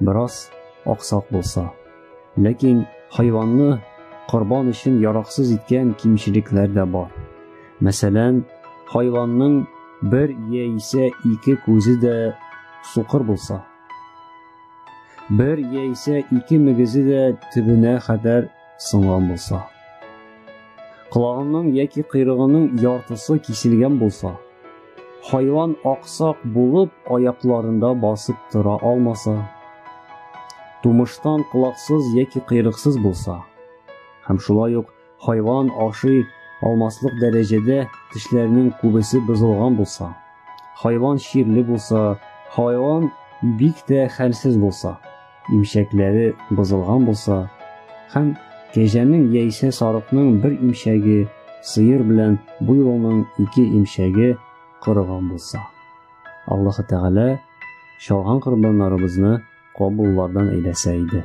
бераз аксак булса. Ләкин хайванны корбан өчен яраксыз иткән кимчелекләр дә бар. Мәсәлән, хайванның бер яисә ике күзе дә сукыр булса, бер яисә ике мөгезе дә төбенә хәтәр сынган булса. Колагының яки кыйрыгының яртысы киселгән булса. Хайван аксак булып аякларында басып тора алмаса. Тумыштан колаксыз яки кыйрыксыз булса. Һәм шулай ук хайван ашый алмаслык дәрәҗәдә тешләренең күбесе бозылган булса. Хайван чирле булса, хайван бик тә хәлсез булса. имчәкләре бозылган булса һәм кәҗәнең яисә сарыкның бер имчәге, сыер белән буйлының ике имчәге корыган булса. Аллаһ Тәгалә чалган корбаннарыбызны кабуллардан әйләсә иде.